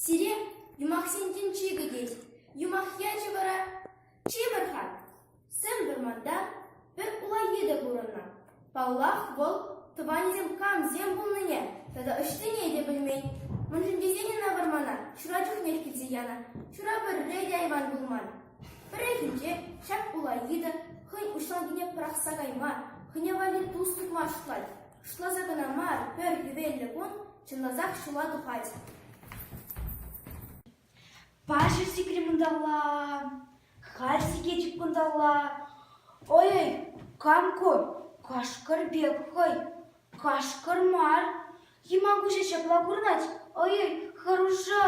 Сире юмахсен тӗнчи кӗтет. Юмах ячӗ вара чи пӗр-ха. Сӗм вӑрманта пӗр улаййи те курӑннӑ. Паллах, вӑл тӑванӗсем камсем пулнине тата ӑҫтине те пӗлмен. Мӗншӗн тесен ӑна вӑрмана ҫура чухнех килсе янӑ. Ҫура пӗрре те айван пулман. Пӗррехинче ҫак улаййи та хӑйӗн уҫланкине пӑрахса кайма, хӑйне валли тус тытма шутлать. Шутласа кӑна мар, пӗр хӗвеллӗ кун чӑнласах ҫула тухать. Паҫӑр сикрӗм унталла, халь сикетӗп кунталла. Ой-ой, кам ку? Кашкӑр пек хӑй. Кашкӑр мар. Йӑман куҫӗ ҫапла курӑнать. Ой-ой, хӑрушӑ.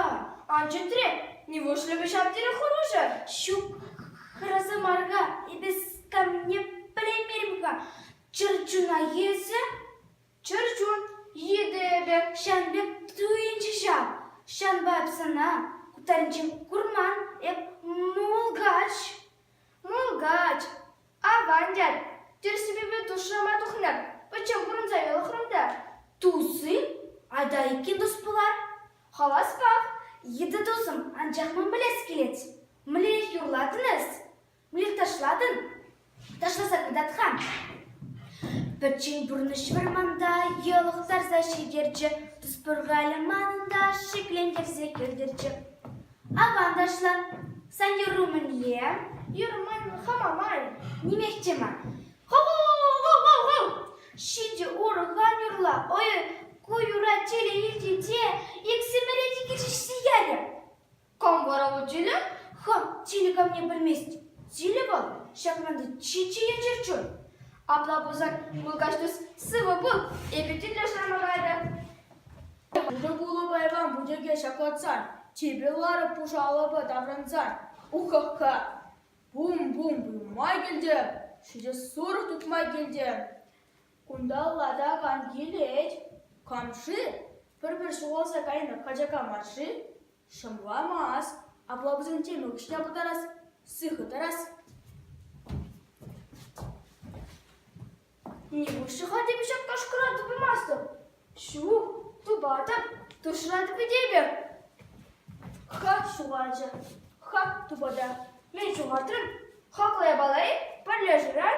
Ан чӗтре, нивушлӗ ҫав тери хӑрушӑ? Ҫук, хӑраса мар-ха, эпӗ камне пӗлеймерӗм-ха. Чӗрчуна эсӗ? Чӗрчун, йытӑ эпӗ, ҫавӑн пек туйӑнчӗ ҫав. Ҫавӑнпа эп сана кутарӗнчен курман, эп мулкач. Мулкач, аван тет. Тӗрӗссипе душрама тухнӑ. Пӗччен пурӑнса йӑлӑхрӑм та. Туси, айдайки тус пулар. Хаваспах йытӑ тусӑм, анчах ман пӗлес килет. Мӗнле юрлатӑн эс? Мир ташлатӑн? Ташласа кӑтарт-ха. Пӗччен пурнӑҫ вӑрманта йӑлӑхтарса ҫитерчӗ, Тус-Пӑркалӗ манӑн та шиклентерсе кӗртӗрччӗ. Аван ташла, сан юру мӗнле? Юр мӗн хама май, нимех те мар. Хо-хо-хо-хо-хо! Ҫичӗ урӑха юрла, ой, ку юра телей илтӗн те иксӗмӗре те килӗшсе ярӗ. Кам вара ку тилӗ? Хам тилӗ камне пӗлмест. Тилӗ вӑл ҫакнанти чи-чи енчер чун. Апла пулсан, мулкач тус, сывӑ пул, эпӗ тӗллештерме кайрӗ. Ырӑ айван путеке ҫаклатсар, типӗ ларӑк пушалӑпа таврӑнсар. Ухаха! Бум-бум туйма килтӗм, ҫичӗ сурӑх тухма килтӗм. Кунта латак ан килет, кам-ши? Пӗр-пӗр ҫухалса кайнӑ качака мар-ши? Шӑмламас, апла пулсан тем укҫа пытарас, сыхӑ тӑрас. Нихуҫ-ха эпӗ ҫак кашкӑра тупаймастӑп. Ҫук, тупатӑп, тӑршратӑп этепӗ. Ха, ҫухалчӗ. Ха, тупата. Мен ҫухатрӑм. Хаклӑ япала-и? Пӗрлешӳрен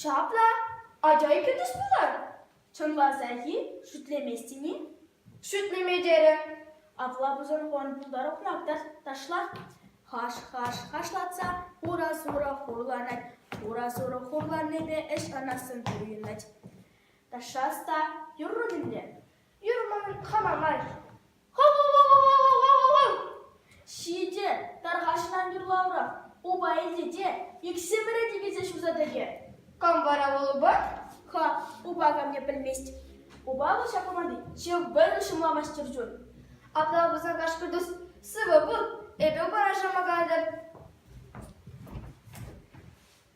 Ҫапла, ача икӗ тус пулар, чӑнласах-и, шӳтлеместӗн-и? Шӳтлеме терӗм. Апла пусӑрхон пултарӑхлах та ташлах. Хаш-хаш хашлатса хура-сурӑ хурланать, хура-сурӑ хурланнипе ӗҫ канассӑн туйӑнать. Ташшас та юррӑм ӗнтӗ. Юрман хӑвамай. Хо-хо-хо-хо-хо-хо-хо! Ҫитӗ, тархасшӑн юрлаврах, упа илте те иксӗмӗре тикӗсе ҫуса тӑкӗ. Кам вара вӑл упа? Ха, упа камне пӗлмест. Упа вӑл ҫак команди, ҫав вӑйлӑ ҫӑмламас чӗрчун. Апла пулсан кашкӑртус, сывӑ пул, эпӗ упара шӑмакантӑр.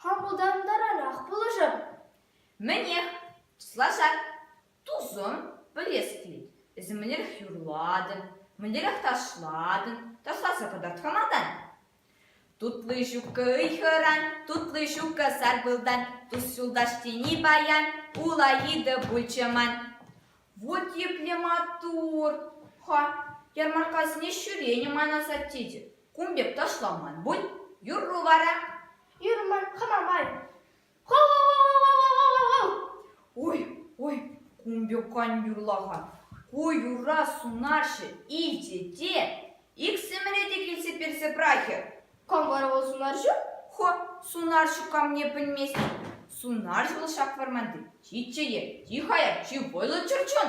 Хапӑлтантаранах пулӑшӑр. Мӗнех, туслаша. Тусӑм, пӗлес килет, эсӗ мӗнлерех юрлатӑн, мӗнлерех ташлатӑн, ташласа кӑтартмаматан. Тутлый ҫуккӑ ыйхӑран, тутлый ҫуккӑ сарпылтан, тус-юлташ тени паян улаитӑ пулчӗ ман. Вот епле маттур! Ха, ярмарккасене ҫӳренӗ ман асаттечӗ. Кун пек ташламан бунь, юрру вара. Юрман хама май. Ой, ой, кун пек кан юрлаха. Ку юрра сунаҫҫӗ иче те. Иксӗмӗре те килсе персе прахӗ. Кам вара вӑл сунарҫу? Хо, сунарҫу камне пӗлмест. Сунарҫӑ вӑл ҫак вӑрманти чи чее, чи хаяр, чи вӑйлӑ чӗрчун.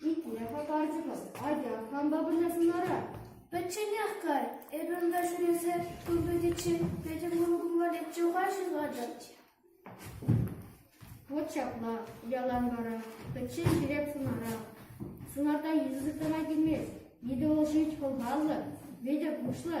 Шутне хӑтартӑпӑр. Атя, кампа пырасшӑн ара? Пӗчченех кар, эпӗ унта ҫӳресе туй пӗтиччен пӗтӗм кункум валетчӗ-ха ҫывхатӑп. Вот ҫапла, ялан вара, пӗччен ҫӳреп сунара. Сунарта йытӑ сыхлама килмест. Йытӑ вӑл шит хӑлхаллӑ, витӗр куҫлӑ.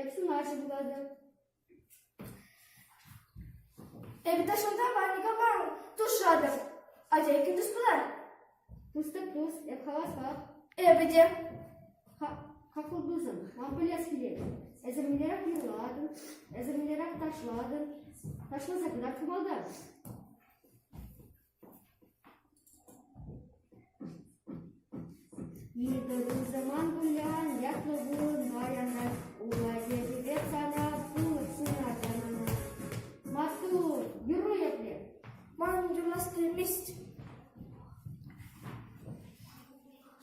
Эп сунаҫӑ пулатӑп. Эпӗ шунта ванника мар тушатӑп. Атя иккӗн тус пулар? Пустӑк тус, эп хаваспах. Эпӗ те. Какой тусӑм, ман пӗлес килет. Эсӗр мӗнлерех юрлатӑн, эсӗр мӗнлерех ташлатӑн, ташласа кӑна хумалтан. Иртӗннӗ саман пуян ятлӑ вырӑна янать, Улатӑрӗпе сана пулӑ ҫунат яманать. Маттур, юру епле! Ман юрлас килмест.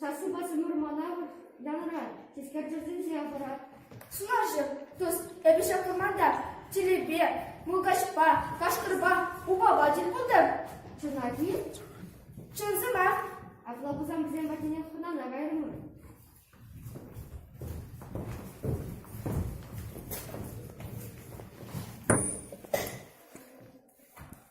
Сассипе Тимур мана янӑран тискерчӗсенче пӑрать. Сунарҫӑ, тӑс, эпӗ ҫак вӑрманта телепе, мулкачпа, кашкӑрпа, упапа тӗл пултӑм. Чӑнах-и? Чӑн сӑмах. Апла пулсан вӗсем патнех хӑнана кайрӑмӑр.